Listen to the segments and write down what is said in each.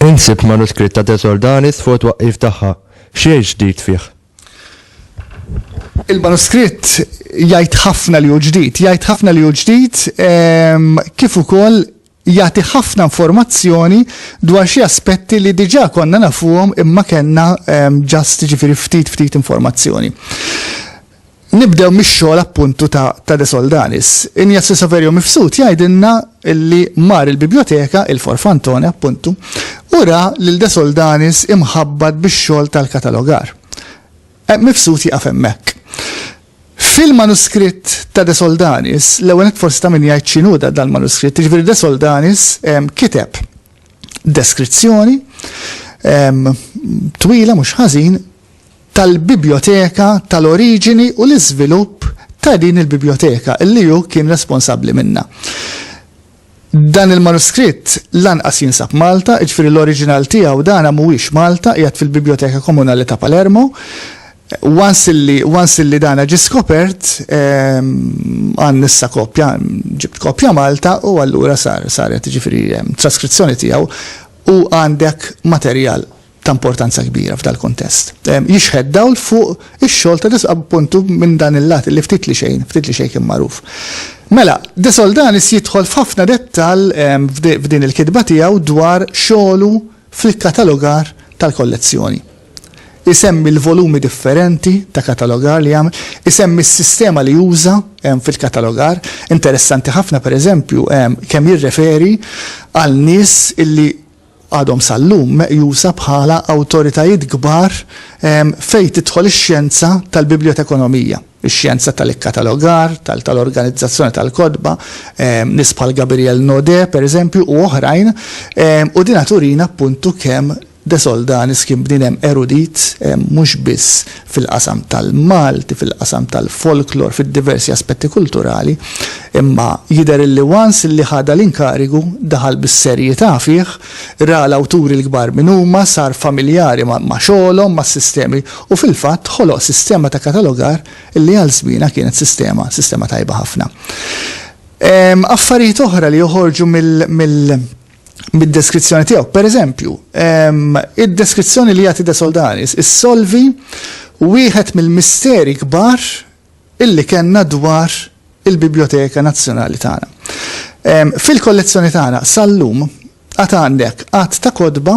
Insib manuskritt ta' Desordanis fuq twaqqif tagħha. Xejn ġdid fih. Il-manuskritt jgħid ħafna li hu ġdid, jgħid ħafna li hu ġdid ehm, kif ukoll jagħti ħafna informazzjoni dwar xi aspetti li diġà konna nafuhom imma kellna ġast ehm, ġifieri ftit ftit informazzjoni. Nibdew mix-xogħol appuntu ta', ta De Soldanis. Injazzi Saverio Mifsud jgħidilna li mar il-biblioteka, il-Forfantone appuntu, u ra lil De Soldanis imħabbat bix-xogħol tal-katalogar. Eh, Mifsud jaqaf hemmhekk. Fil-manuskritt ta' De Soldanis, l-ewwel nett forsi ta' min jgħid x'inhu dan dal-manuskritt, jiġifieri De Soldanis kiteb deskrizzjoni twila mhux ħażin tal-bibjoteka, tal-oriġini u l-iżvilupp ta' din il-bibjoteka li hu kien responsabbli minnha. Dan il-manuskritt lanqas jinsab Malta, jiġifieri l-oriġinal tiegħu dan mhuwiex Malta, qiegħed fil-Biblioteka Komunali ta' Palermo. Once illi, once illi dan ġie skopert, għandna issa kopja, ġibt kopja Malta u allura sar, saret jiġifieri traskrizzjoni tiegħu u għandek materjal ta' importanza kbira f'dal-kuntest. Jixħet dawl fuq ix-xogħol ta' Desq appuntu minn dan il-lat li ftit li xejn, ftit li xejn kien magħruf. Mela, De Soldanis jidħol f'ħafna dettall f'din il-kitba tiegħu dwar xogħlu fil-katalogar tal-kollezzjoni. Isemmi l-volumi differenti ta' katalogar li għamel, isemmi s-sistema li uża fil-katalogar. Interessanti ħafna, pereżempju, kemm jirreferi għal nies illi, għadhom sal-lum meqjusa bħala awtoritajiet kbar fejn tidħol ix-xjenza tal-bibjotekonomija, ix-xjenza tal-ikkatalogar, tal-organizzazzjoni tal-kotba, nies bħal Gabiriel Naudet, pereżempju, u oħrajn, u dinha turina appuntu kemm De Soldanis kien bniedem erudit mhux biss fil-qasam tal-Malti, fil-qasam tal-folklor, fid-diversi aspetti kulturali, imma jidher illi once illi ħadha l-inkarigu, daħal bis-serjità fih, ra l-awturi l-kbar min huma, sar familjari ma' xogħolhom, mas-sistemi, u fil-fatt ħoloq sistema ta' katalogar illi għal żmienha kienet sistema, sistema tajba ħafna. Affarijiet oħra li joħorġu mill, mill, mid-deskrizzjoni tiegħu. Per eżempju, id-deskrizzjoni li jagħti De Soldanis issolvi wieħed mill-misteri kbar illi kellna dwar il-Biblioteka Nazzjonali tagħna. Fil-kollezzjoni tagħna sal-lum għad għandek għad ta' kodba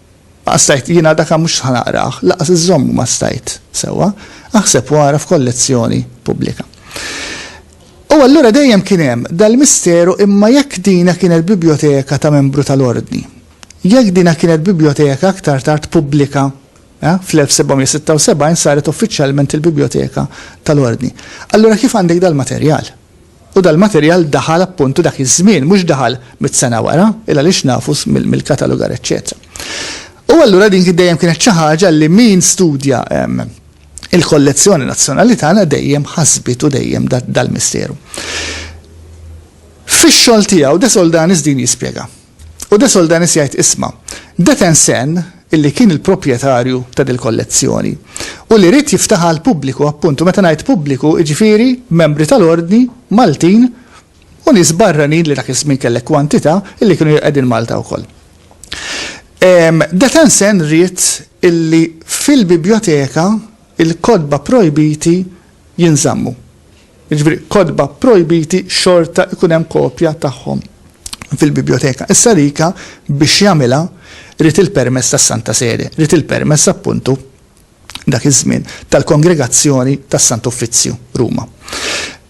Ma stajt, jiena daka mhux ħa naqrah, lanqas iżżommu ma stajt sewwa, aħseb u agħraf kollezzjoni pubblika. U allura dejjem kien hemm dal-misteru imma jekk dina kienet bibjoteka ta' membru tal-Ordni, jekk dina kienet bibjoteka aktar tard pubblika, eh, fl-1776 saret uffiċjalment il-bibjoteka tal-Ordni, allura kif għandek dal-materjal? U dal-materjal daħal appuntu dak iż-żmien, mhux daħal mitt sena wara, il-għaliex nafu mill-katalogar eċċetera. U allura din dejjem kienet xi ħaġa li min studja il-kollezzjoni nazzjonali tagħna dejjem ħasbitu dejjem dal-misteru. Fix-xogħol tiegħu De Soldanis din jispjega. U De Soldanis jgħid isma', Detensen, illi kien il-proprjetarju ta' dil-kollezzjoni, u li ried jiftaħha għall-pubbliku, appunt, u meta ngħid pubbliku, jiġifieri membri tal-Ordni, Maltin, u nies barranin li dak iż-żmien kellek kwantità, illi kienu qegħdin Malta wkoll. Detensen ried illi fil-bibjoteka l-kotba projbiti jinżammu. Jiġifieri kotba pprojbiti xorta jkun hemm kopja tagħhom fil-bibljoteka. Issa Rica biex jagħmilha ried il-permess tas-Santa Sede, ried il-permess appuntu dak iż-żmien tal-Kongregazzjoni tas-Sant Uffizzju, Ruma.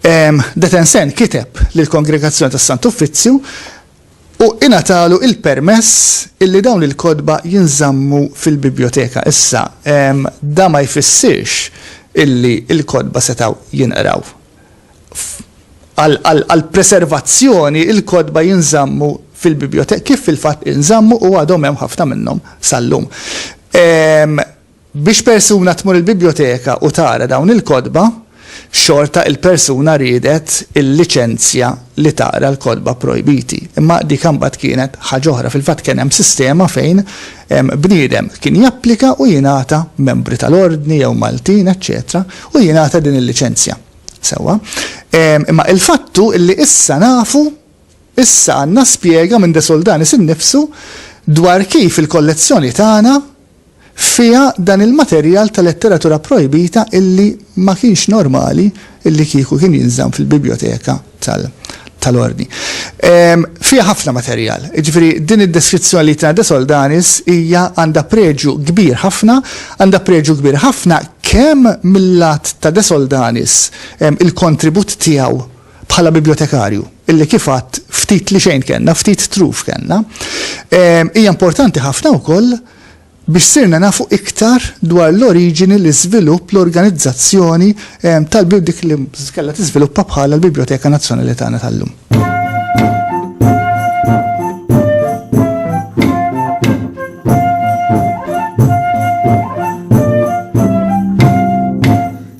Detensen kiteb lill-Kongregazzjoni tas-Sant Uffizzju u ingħatalu l-permess illi dawn il-kotba jinżammu fil-bibljoteka. Issa, dan ma jfissirx illi l-kotba setgħu jinqraw. Għall-preservazzjoni, il-kotba jinżammu fil-bibljoteka, kif fil-fatt inżammu u għadhom hemm ħafna minnhom sal-lum. Biex persuna tmur il-bibljoteka u tara dawn il-kotba, xorta il-persuna riedet il-liċenzja li taqra l-kotba projbiti. Imma dik imbagħad kienet ħaġa oħra. Fil-fatt kien hemm sistema fejn bniedem kien japplika u jingħata, membri tal-Ordni jew Maltin, eċċetera, u jingħata din il-liċenzja. Sewwa. Imma il-fatt hu li issa nafu, issa għandna spjega minn De Soldanis innifsu dwar kif il-kollezzjoni tagħna fiha dan il-materjal ta' letteratura pprojbita illi ma kienx normali illi kieku kien jinżamm fil-bibljoteka tal-Ordni. Fiha ħafna materjal. Jiġifieri din id-deskrizzjoni li jtina De Soldanis hija għandha preġju kbir ħafna, għandha preġju kbir ħafna kemm mil-lat ta' De Soldanis, il-kontribut tiegħu bħala bibljotekarju, illi kif għadt ftit li xejn kellna, ftit truf kellna, hija importanti ħafna wkoll biex sirna nafu iktar dwar l-oriġini, l-iżvilupp, l-organizzazzjoni tal-dik li kellha tiżviluppa bħala l-Biblioteka Nazzjonali tagħna tal-lum.